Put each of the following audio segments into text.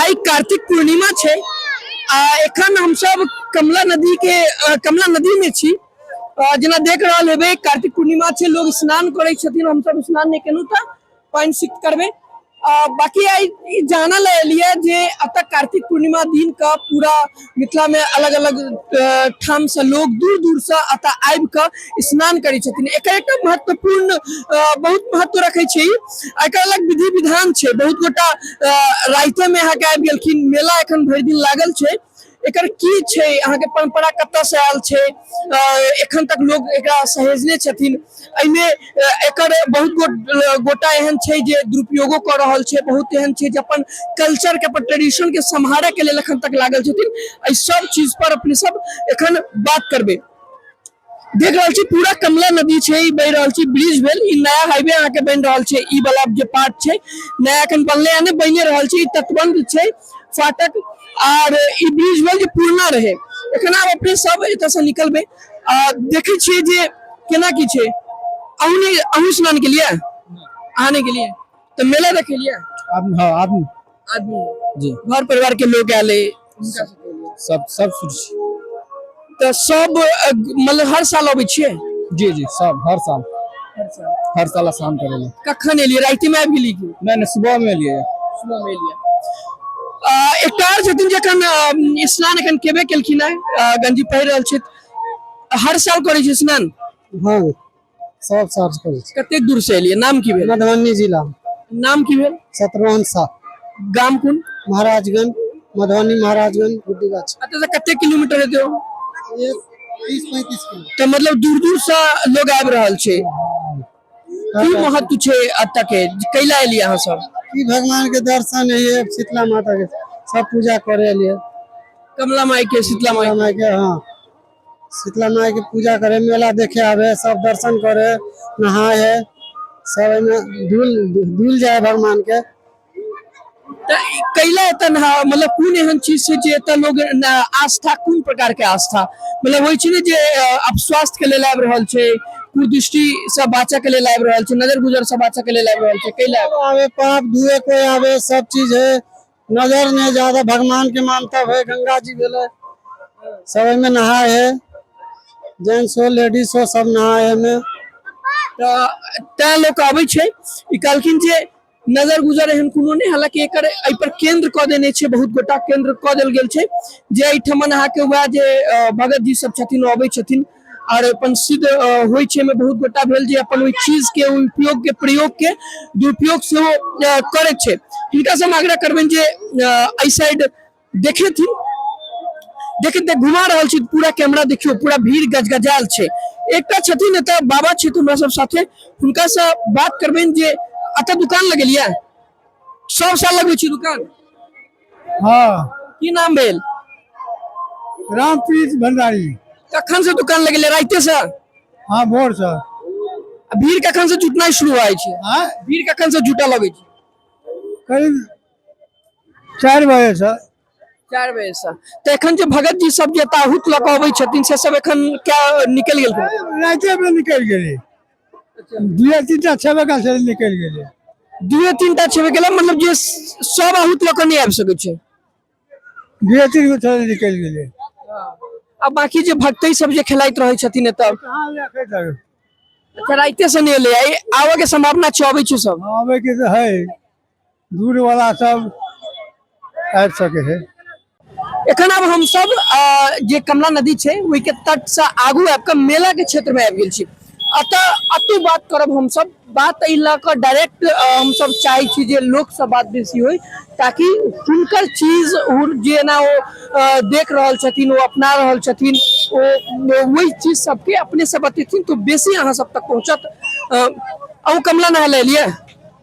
आई कार्तिक पूर्णिमा छे एखन हम सब कमला नदी के कमला नदी में छी जना देख रहा है कार्तिक पूर्णिमा छे लोग स्नान करे छथिन हम सब स्नान नहीं केनु त पॉइंट सिक्स करबे बाकी आई जानल एलिए जे अतः कार्तिक पूर्णिमा दिन का पूरा मिथिला में अलग अलग ठाम से लोग दूर दूर से अतः आबि के स्नान करे छथिन एक एक महत्वपूर्ण बहुत महत्व रखे छै एक अलग विधि विधान छै बहुत गोटा राइते में यहाँ के आबि गेलखिन मेला एखन भरि दिन लागल छै एकर की छै अहाँके परम्परा कतयसँ आयल छै एखन तक लोक एकरा सहेजने छथिन एहिमे एकर बहुत गोटा एहन छै जे दुरुपयोगो कऽ रहल छै बहुत एहन छै जे अपन कल्चरके अपन ट्रेडिशनके सम्हारयके लेल एखन तक लागल छथिन एहि सब चीजपर अपने सब एखन बात करबै देख रहल छी पूरा कमला नदी छै ई बहि रहल छी ब्रिज भेल ई नया हाईवे अहाँ के बन रहल छै ई वाला जो पार्ट छै नया अखन बनले है ने बने रहल छै तटबंध छै फाटक आर ई ब्रिज भेल जो पुरना रहे एखन आब अपने सब एत से निकलबे आ देखे छियै जे केना की छै अहू ने अहू स्नान के लिए आने के लिए तो मेला देखे लिए आदमी हाँ आदमी आदमी जी घर परिवार के लोग आयल है हुनका से कहलियै। सब सब शुरू छी तऽ सब अ, मतलब हर साल अबै छियै जी जी सब हर साल हर साल हर साल स्नान करे ले कखन एलियै राति में आबि गेलियै कि नहीं नहीं सुबह में लिए सुबह में एलियै अ, एकटा आओर छथिन जखन अ, स्नान एखन केबे केलखिन है अ, गंजी पहिर रहल छथि हर साल करै छै स्नान हाँ सब साफ करै छी कतेक दूर से एलियै नाम की भेल मधुबनी जिला नाम की भेल सतरोहन सा गाम कोन महाराजगंज मधुबनी महाराजगंज गुड्डी गाछ एतय से कतेक किलोमीटर हेतै ओ? तीस पैंतीस किलो तऽ मतलब दूर दूर से लोग आबि रहल छै की महत्व छै एतय के कैला एलियै अहाँ सब ई भगवान के दर्शन है ये शीतला माता के सब पूजा करे लिए कमला माई के शीतला माई माई के हाँ शीतला माई के पूजा करे मेला देखे आवे सब दर्शन करे नहाए है सब एमे धुल धुल जाए भगवान के त ई कैला एतऽ नहा मतलब कोन एहन चीज छै जे एतऽ लोग न- आस्था कोन प्रकार के आस्था मतलब होइ छै ने जे अ, आब स्वास्थ्य के लेल आबि रहल छै कुदृष्टि से बाँचऽ के लेल आबि रहल छै नजर गुजर से बाँचऽ के लेल आबि रहल छै कैला आबि रहल आवे पाप धुए कोई आवे सब चीज है नजर नहीं ज्यादा भगवान के मानता है गंगा जी भेले सब में नहाए है जेंट्स हो लेडीज हो सब नहाए है में तऽ तैं लोक अबै छै ई कहलखिन जे नजर गुजर एहन कोनो नहि हालांकि एकर एहि पर केंद्र कऽ देने छै बहुत गोटा केंद्र कऽ देल गेल छै जे एहिठमन अहाँके वएह जे अ, भगत जी सब छथिन ओ अबै छथिन और अपन सिद्ध होइ छै में बहुत गोटा भेल जे अपन ओहि चीज के उपयोग के प्रयोग के दुरुपयोग से करे छै इनका से हम आग्रह करबे जे आई साइड देखे थी देखे देख घुमा रहा छी पूरा कैमरा देखियो पूरा भीड़ गजगजाल छै एक छथिन एतऽ बाबा छथिन हमरा सब साथे हुनका से बात करबे जे अत दुकान लगेलिया सब साल लगबै छी दुकान हाँ की नाम भेल रामप्रीत भंडारी कखन से दुकान लगेले राइते से हाँ भोर से आ भीड़ कखन से जुटनाइ शुरू होइ छै हाँ भीड़ कखन से जुटऽ लगै छै करीब चारि बजे से चारि बजे से तऽ एखन जे भगत जी सब जे ताहूत लऽ कऽ अबै छथिन से सब एखन क्या निकलि गेलखिन राइते में निकल गेली दुए तीन टा छेबे कयल छलै निकलि गेलै दुए तीन टा छेबे केलै मतलब जे सब अहूत लऽ कऽ नहि आबि सकै छै दुए तीन गो छलै निकलि गेलै आ बाकी जे भक्तै सब जे खेलाइत रहै छथिन एतऽ कहाँ रखैत रहै अच्छा राइते से नहि एलै आइ आबऽ के संभावना छै अबै छै सब आबैके तऽ है दूर वाला सब आबि सके है एखन आब हम सब जे कमला नदी छै ओहि के तट से आगू आबि के मेला के क्षेत्र में आबि गेल छी अतः अतु बात करब हम सब बात एहि लऽ कऽ डायरेक्ट हम सब चाहे छी जे लोक से बात बेसी होय ताकि हुनकर चीज हुन जेना ओ अ, देख रहल छथिन ओ अपना रहल छथिन ओ वही चीज सबके अपने से बतेथिन तो बेसी अहाँ सब तक पहुँचत अ, अहूँ कमला नहाय ले एलियै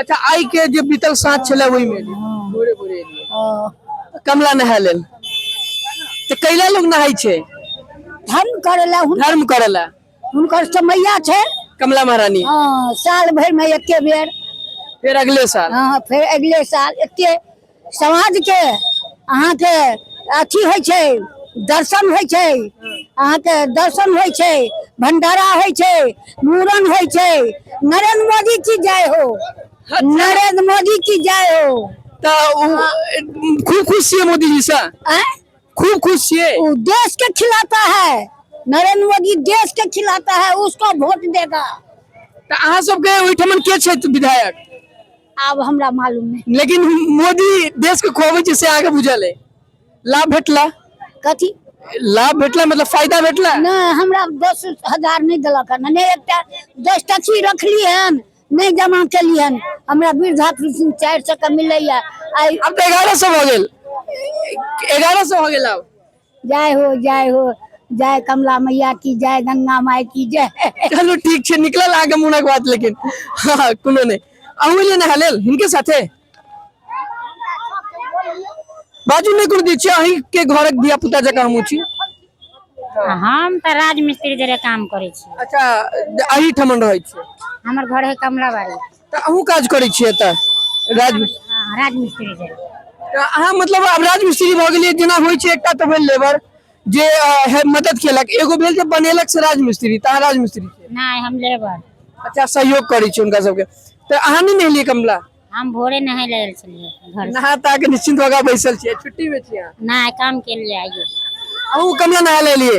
अच्छा आइ के जे बीतल साँझ छलै ओहिमे भोरे भोरे एलियै कमला नहाय लेल तऽ कैला लोग नहाय छै धर्म करै लए हुन- धर्म करै लए हुनकर समैया छै कमला महारानी हँ, साल भरिमे एके बेर फेर अगले साल हँ, फेर अगले साल एके समाज के अहाँ के अथी होइ छै दर्शन होइ छै अहाँ के दर्शन होइ छै भंडारा होइ छै मूड़न होइ छै नरेंद्र मोदी की जय हो नरेंद्र मोदी की जय हो तऽ उ- खूब खुश छियै मोदी जी से आँय? खूब खुश छियै वो देश के खिलाता है नरेंद्र मोदी देश के खिलाता है उसको वोट देगा तऽ अहाँ सबके ओहिठाम के छथि विधायक आब हमरा मालूम है लेकिन मोदी देश के खुआबे छै से आगे बुझल है लाभ भेटला कथी लाभ भेटला मतलब फायदा भेटला नहीं हमरा दस हजार नहीं दिलक हन नहीं एकटा दस टची रखली हन नहीं जमा केली हन हमरा वृद्धा पेंशन चार सौ के मिलैया आई अब तो एगारह सौ हो गेल एगारह सौ हो गेल अब जय हो जय हो जय कमला मैया की जय गंगा माय की जय चलू ठीक छै निकलल अहाँके मोनक बात लेकिन हँ हँ, कोनो नहि अहूँ एलियै नहा लेल हिनके साथे बाजू नहि कोनो दै छियै अहींके घरक धिया पुता जकाँ हमहूँ छी हम तऽ राजमिस्त्री जरे काम करै छी अच्छा अही ठमन रहै छियै हमर घर है कमलाबाड़ी तऽ अहूँ काज करै छियै एतऽ राज हाँ, राजमिस्त्री छै तऽ अहाँ मतलब आब राजमिस्त्री भऽ गेलियै जेना होइ छै एकटा तऽ भेल लेबर जे अ, हे- मदद केलक एगो भेल जे बनेलक से राजमिस्त्री तऽ अहाँ राजमिस्त्री छियै नहि हम लेबर अच्छा सहयोग करै छी हुनका सबके तऽ अहाँ नहि नहेलियै कमला हम भोरे नहाय ले आयल छलियै घर से। नहा ता के निश्चिंत भऽ कऽ बैसल छियै छुट्टी में छियै अहाँ। नहि काम के लिए आइयो अहूँ कमला नहा लेलियै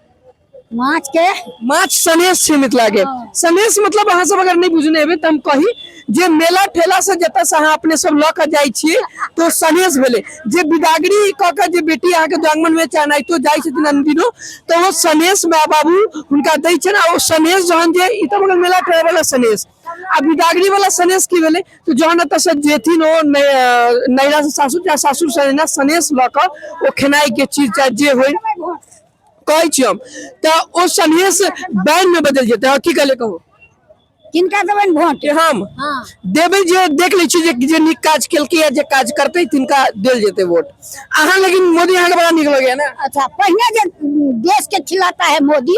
माछ के माछ सनेश छै मिथिला के हाँ। सनेश मतलब अहाँ सब अगर नहीं बुझने हेबै त हम कही जे मेला ठेला से जतऽ से अहाँ अपने सब लऽ कऽ जाइ छियै तो सनेश भेलै जे बिदागरी कऽ कऽ जे बेटी अहाँके दुआंगमन में चाहनाइतो जाइ छथिन अनदिनो तऽ ओ सनेश माय बाबू हुनका दै छनि आ ओ सनेश जहन जे ई तऽ भऽ गेल मेला ठेला वाला सनेश आ बिदागरी वाला सनेश की भेलै तऽ जहन एतऽ से जेथिन ओ नै- अ, नैरा से सासुर या सासुर से नैरा सनेश लऽ कऽ ओ खेनाइ के चीज चाहे जे होय कहै छी हम तऽ ओ सनेस बैन में बदल जेतै अहाँ की कहले कहू किनका देबनि वोट कि हम हँ देबै जे देख लै छी जे जे नीक काज केलकै या जे काज करतै तिनका देल जेतै वोट अहाँ लेकिन मोदी अहाँके बड़ा नीक लगैया ने अच्छा पहिने जे देश के खिलाता है मोदी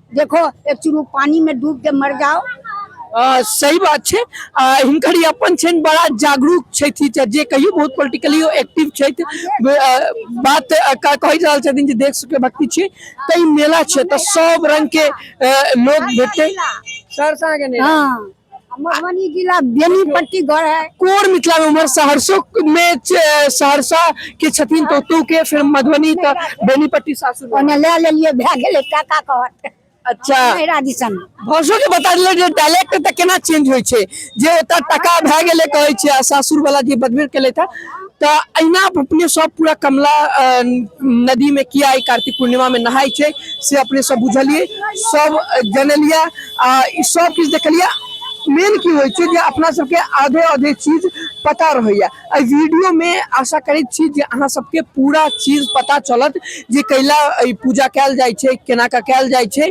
देखो एक चुरू पानी में डूब के मर जाओ अ, सही बात छै आ, हिनकर ई अपन छनि बड़ा जागरूक छथि च- जे कहियो बहुत पोलिटिकली एक्टिव छथि ब- अ, बात अ, क- कहि रहल छथिन जे देख सके भक्ति छै तऽ ई मेला छै तऽ सब रंग के अ, लोग भेटतै सरसा के नहि हाँ मधुबनी जिला बेनीपट्टी घर है कोर मिथिला में उम्हर सहरसो में छ- सहरसा के छथिन तो तू के फिर मधुबनी त बेनीपट्टी सासुर में। ओने ले लेलिए भए गेलै टाका कहत अच्छा नैरा दिसन भाषो के बता दिले जे डायलेक्ट त केना चेंज होय छै जे ओता टका भए गेले कहै छै आ सासुर वाला जे बदबेर केले था तऽ अहिना अपने सब पूरा कमला अ, नदी में किया ई कार्तिक पूर्णिमा में नहाय छै से अपने सब बुझलिए सब जनलिए आ ई सब किछु देखलिए मेन की होइ छै जे अपना सबके आधे आधे चीज पता रहैया एहि वीडियो में आशा करैत छी जे अहाँ सबके पूरा चीज पता चलत जे कैला ई पूजा कैल जाइ छै केना कऽ कैल जाइ छै